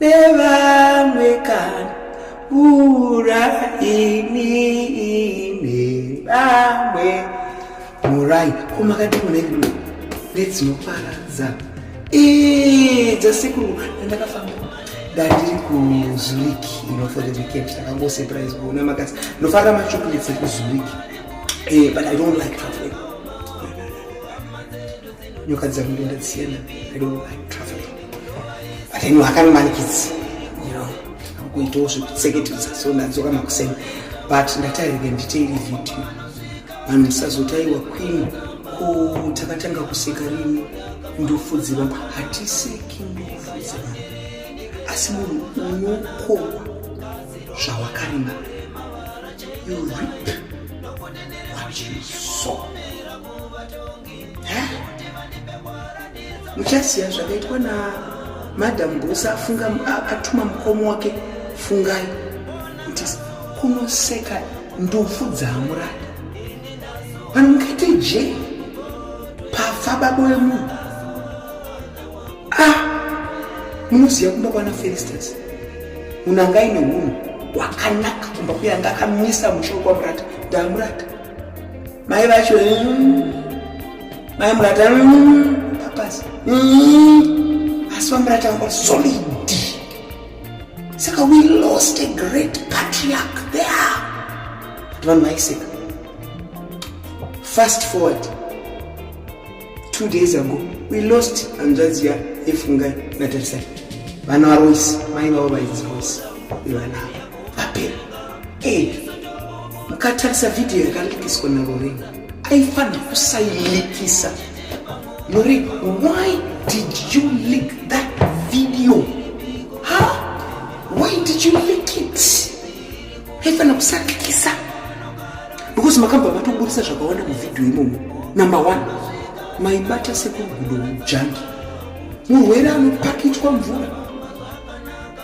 nevamwe kana mvura ini nevamwe murai komakadimunedu nedzinoparadza dzasekuru andakafamba ndandiri kuzurich inofor the weekend ndakangosurprise kuona makasi ndofarira machocolates ekuzurich eh, but i don't like traveling nyoka dzakunge ndadziyana i don't like traffic but anyway akanomanikidzi you know akuitawo zvekutseketedza so ndadzoka makuseni but ndatairike nditeiri video vanhu musazotaiwa queen ko takatanga kuseka rini ndufu dzevanhu hatiseki ndufu dzevanhu asi munhu unokohwa zvawakarima you rip what you saw muchasiya zvakaitwa na madam bosa afunga atuma mukomo wake fungai kuti kunoseka ndufu dzaamuradi vanhu mukaite je pafa babo vemunhu a ah, munoziva kumba kwana felisters unanga ine unhu wakanaka kumba kuyanga akamisa mushoko wamurata ndaamurata mai vacho mai murata apasi asi vamurata vanga solid saka we lost a great patriarch there kuti vanhu vaiseka fast forward two days ago we lost hanzvadzi ya efungai natarisai vana varoisi mai vavo vainzi roisi ivana vapera e mukatarisa vhidhiyo yakalikiswa naloreni aifanira kusailikisa loreni why did you leak that video ha why did you leak it haifanira kusakikisa because makabva matoburitsa zvakawanda muvhidhiyo imomo number one maibata sekugudo mujangi murwere anopakichwa mvura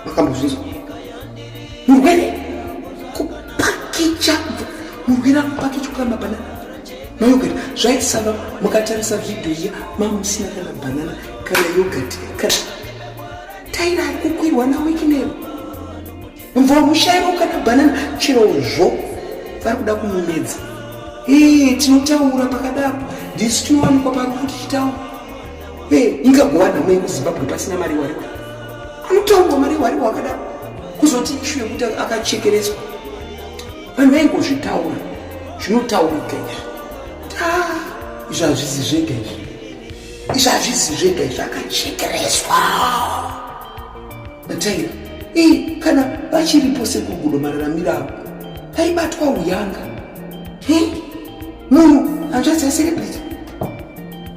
makambozvinzwa murwere kupakicha murwere anopakichwa kana mabanana mayogati zvaisava mukatarisa vhidhiyo iya mamusina kana banana kana yogati kana taira ari kukwirwa nawekinero mvura mushairo kana banana chirozvo vari kuda kumumedza ee tinotaura pakadaro ndisu tinowanikwa parufu tichitaura ee ingagova nhamo yekuzimbabwe pasina mari wariwa anotaurwa mari wariwa akadaro kuzoti ishu yekuti akachekereswa vanhu vaingozvitaura zvinotaurika izvi kuti a ah, izvi hazvizi zvega izvi izvi hazvizi zvega izvi akachekereswa Mataira ii kana vachiripo sekugudo mararamiro avo vaibatwa uyanga munhu hanzvadzi yaserebrity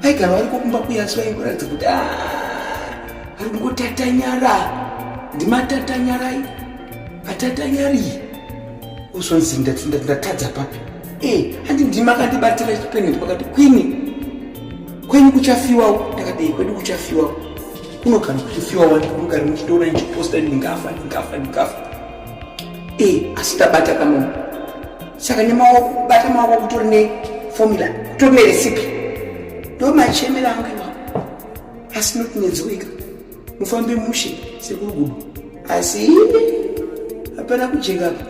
vaigara variko kumba kuya asi vaingoratidza kuti ah, ari kungotatanyara ndimatatanyara i atatanyari uzonzi ndatadza papi e handi ndima akandibatira chipeneti pakati kwini kwenyu kuchafiwawo ndakadei kwedu kuchafiwawo kuno kana kuchifiwa wani kuno kana muchitoona ndichiposta ndingafa ndingafa ndingafa e asi ndabata kama saka nemaoko bata maoko kutori neformula kutori neresipi ndo machemera anga iwawo asi noti nedzowika mufambe mushe sekurugudu asi hapana kujeka apa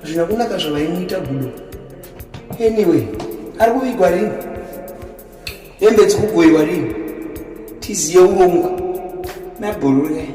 zvina kunaka zvavaimuita gudo anyway ari kuvigwa rini hembe dzikugoiwa rini tiziye urongwa nabhororei